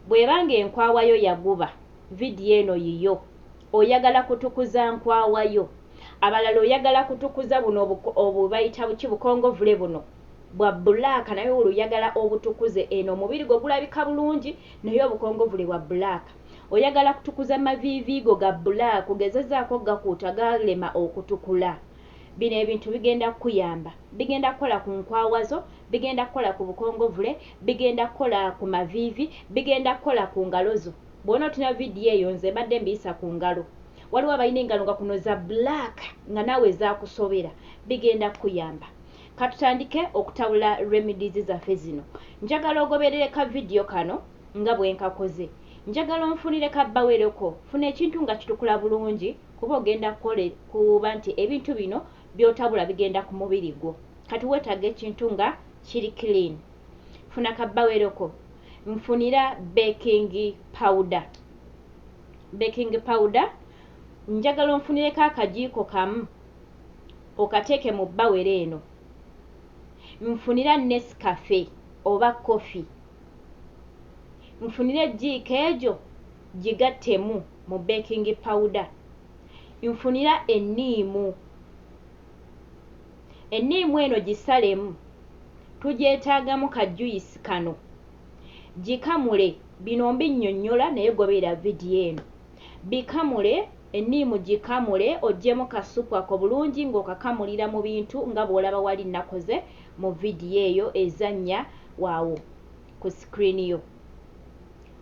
Bweba nga enkwawa yo yaguba, video eno yiyo. Oyagala kutukuza nkwawa yo. Abalala oyagala kutukuza buno obu obu bayita buki bukongovule buno. Bwa black naye wuli oyagala obutukuze eno omubiri gwo gulabika bulungi naye obukongovule bwa black. Oyagala kutukuza maviivi go ga black, gezezaako okugakuuta galema okutukula. Bino ebintu bigenda kukuyamba. Bigenda kukola ku nkwawa zo, bigenda kukola ku bukongovule, bigenda kukola ku maviivi, bigenda kukola ku ngalo zo. Bw'onootunuulira vidiyo eyo nze mbadde mbiyisa ku ngalo. Waliwo abalina engalo nga kuno za black nga naawe zaakusobera. Bigenda kukuyamba. Ka tutandike okutabula remedies zaffe zino. Njagala ogoberere ka vidiyo kano nga bwe nkakoze. Njagala onfunire ka bbaweroko. Funa ekintu nga kitukula bulungi. Kuba ogenda kukole kuba nti ebintu bino byotabula bigenda kumubiri gwo kati wetaga ekintu nga kiri clean funa ka baweroko nfunira baking powder baking powder njagala onfunireko akajiiko kamu okateeke mu bawero eno nfunira nescafe oba coffee nfunira ejiiko egyo Gigattemu mu beekingi pawuda. Nfunira enniimu. Enniimu eno gisalemu. Tugyetaagamu ka juyisi kano. Gikamule. Bino mbinnyonnyola naye goberera vidiyo eno. Bikamule, enniimu gikamule oggyemu ka ssupu ako bulungi ng'okakamulira mu bintu nga bw'olaba wali nnakoze mu vidiyo eyo ezannya awo ku sikiriini yo.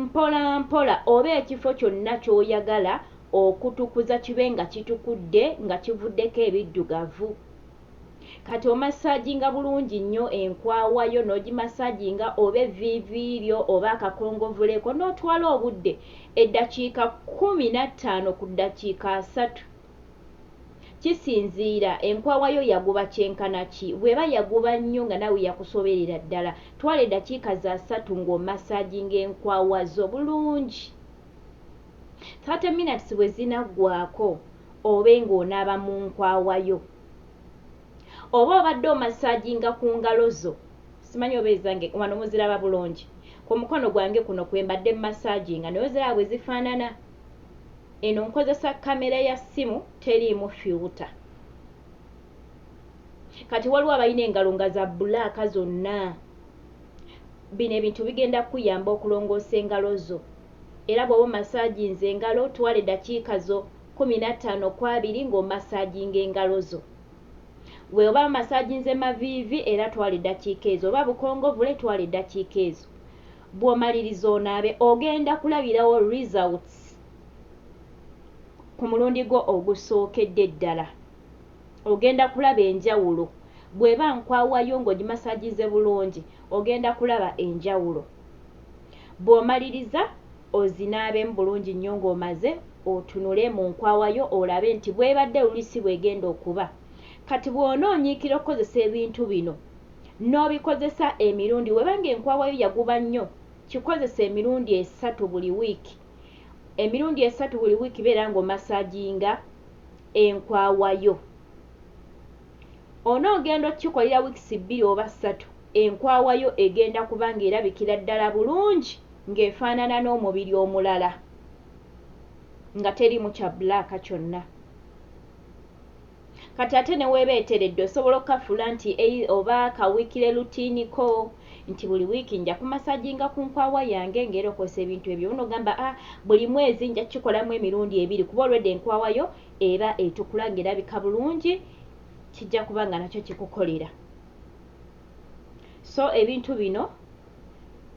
Mpolampola oba ekifo kyonna ky'oyagala okutukuza kibe nga kitukudde nga kivuddeko ebiddugavu. Kati omassaaginga bulungi nnyo enkwawa yo n'ogimassaaginga oba evviivi lyo oba akakongovule ko n'otwala obudde eddakiika kkumi na ttaano ku ddakiika asatu. Kisinziira, enkwawa yo yaguba kyenkana ki. Bw'eba yaguba nnyo nga naawe yakusoberera ddala, twala eddakiika za ssatu ng'omassaaginga enkwawa zo bulungi. Thirty minutes bwe zinaggwaako, obe ng'onaaba mu nkwawa yo. Oba obadde omassaaginga ku ngalo zo, simanyi oba ezange wano muziraba bulungi, ku mukono gwange kuno kwe mbadde mmassaaginga naye oziraba bwe zifaanana? Eno nkozesa camera ya simu teriimu filter kati waliwo abalina engalo nga za black zonna bino ebintu bigenda kuyamba okulongoosa engalo zo era bwoba omasaginze engalo twala edakiika zo kumi nattaano kwabiri nga omasaginga engalo zo bweoba omasaginze maviivi era twala edakiika ezo oba bukongovule twala edakiika ezo. Bw'omaliriza onaabe ogenda kulabirawo results ku mulundi gwo ogusookedde ddala. Ogenda kulaba enjawulo. Bw'eba nkwawa yo ng'ogimasaginze bulungi ogenda kulaba enjawulo. Bw'omaliriza ozinaabemu bulungi nnyo ng'omaze otunule mu nkwawa yo olabe nti bw'ebadde luli si bw'egenda okuba. Kati bw'onoonyiikira okukozesa ebintu bino n'obikozesa emirundi weba nga enkwawa yo yaguba nnyo kikozese emirundi esatu buli wiiki emirundi esatu buli wiiki beera nga omasaginga enkwawa yo ono ogenda okikolera wiikisi bbiri oba ssatu enkwawa yo egenda kuba nga erabikira ddala bulungi ng'efaanana n'omubiri omulala nga teriimu kya bulaaka kyonna. Kati ate ne w'eba eteredde osobola okukafuula nti ei oba ka wiikile lutiini ko nti buli wiiki nja ku masaginga ku nkwawa yange nga era okozesa ebintu ebyo oba n'ogamba a buli mwezi nja kukikolamu emirundi ebiri kuba olwedda enkwawa yo eba etukula nga erabika bulungi kijja kuba nga nakyo kikukolera. So ebintu bino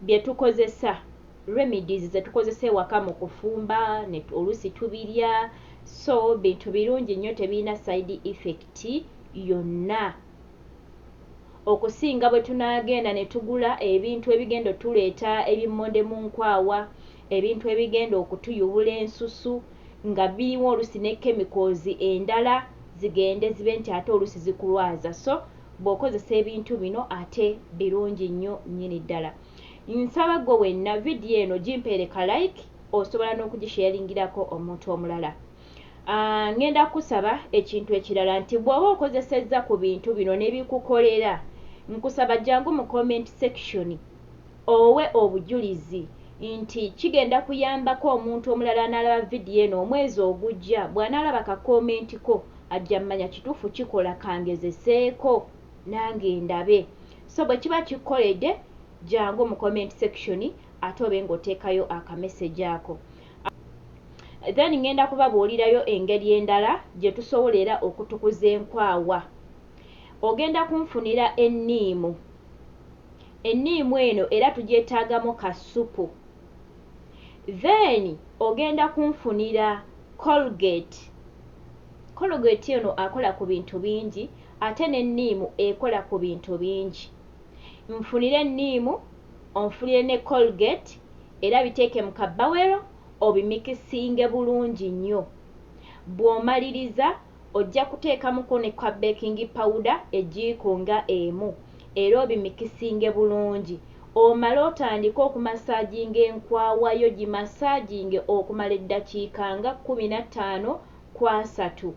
bye tukozesa, remedies ze tukozesa ewaka mu kufumba ne oluusi tubirya, so bintu birungi nnyo tebirina side effect yonna okusinga bwe tunaagenda ne tugula ebintu ebigenda otuleeta ebimmonde mu nkwawa, ebintu ebigenda okutuyubula ensusu nga birimu oluusi ne chemicals endala zigende zibe nti ate oluusi zikulwaza. So Bwokozesa ebintu bino ate birungi nnyo nnyini ddala. Nsaba ggwe wenna video eno gimpeere ka like osobola n'okugisharingirako omuntu omulala. Ngenda kukusaba ekintu ekirala nti bwoba okozesezza ku bintu bino nebikukolera nkusaba jangu mu comment section. owe obujulizi nti kigenda kuyambako omuntu omulala anaalaba vidiyo eno omwezi ogujja bw'anaalaba ka kkoomenti ko ajja mmanya kituufu kikola ka ngezeseeko nange ndabe so bwe kiba kikkolede jangu mu comment section ate obe ng'oteekayo akamesegi ako then ngenda kubabuulirayo engeri endala gye tusobola era okutukuza enkwawa. Ogenda kunfunira enniimu. Enniimu eno era tugyetaagamu ka ssupu. Then ogenda kunfunira Colgate. Colgate ono akola ku bintu bingi ate n'enniimu ekola ku bintu bingi. Nfunira enniimu, onfunire ne Colgate era biteeke mu kabawero obimikisinge bulungi nnyo. Bw'omaliriza Ojja kuteekamuko ne ka baking pawuda ejiiko nga emu era obimikisinge bulungi omale otandike okumasaaginga enkwawa yo gimasaaginge okumala eddakiika nga kkumi na ttaano ku asatu.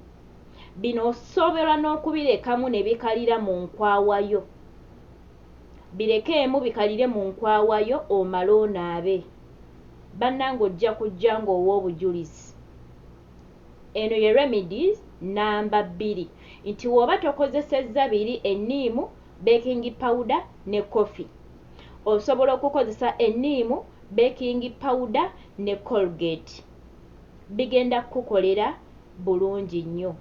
Bino osobola n'okubirekamu ne bikalira mu nkwawa yo. Birekeemu bikalire mu nkwawa yo omale onaabe. Bannange ojja kujja ng'owa obujulizi. Eno ye remedies namba bbiri nti woba tokozesezza biri enniimu, baking powder ne coffee osobola okukozesa enniimu, baking powder ne colgate bigenda kukukolera bulungi nnyo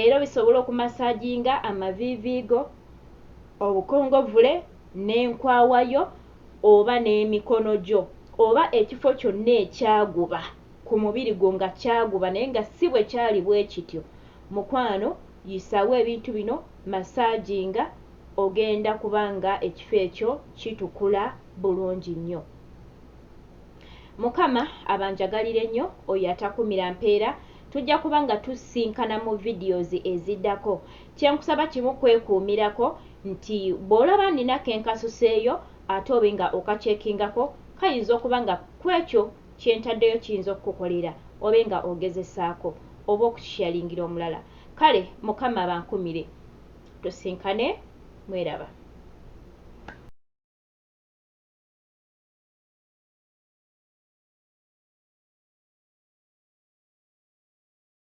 era obisobola okumasaginga amaviivi go, obukongovule n'enkwawa yo oba n'emikono gyo oba ekifo kyonna ekyaguba. ku mubiri gwo nga kyaguba naye nga si bwe kyali bwe kityo mukwano yisaawo ebintu bino masaaginga ogenda kuba nga ekifo ekyo kitukula bulungi nnyo mukama abanjagalire nnyo oyo atakumira mpeera tujja kuba nga tusinkana mu videos eziddako kye nkusaba kimu kwekuumirako nti bw'olaba nina ke nkasuseeyo ate obe nga okakyeekingako kayinza okuba nga kwekyo Kye ntaddeyo kiyinza okukukolera, obe nga ogezesaako, oba okukisharingira omulala. Kale Mukama abankumire. Tusinkane. Mweraba.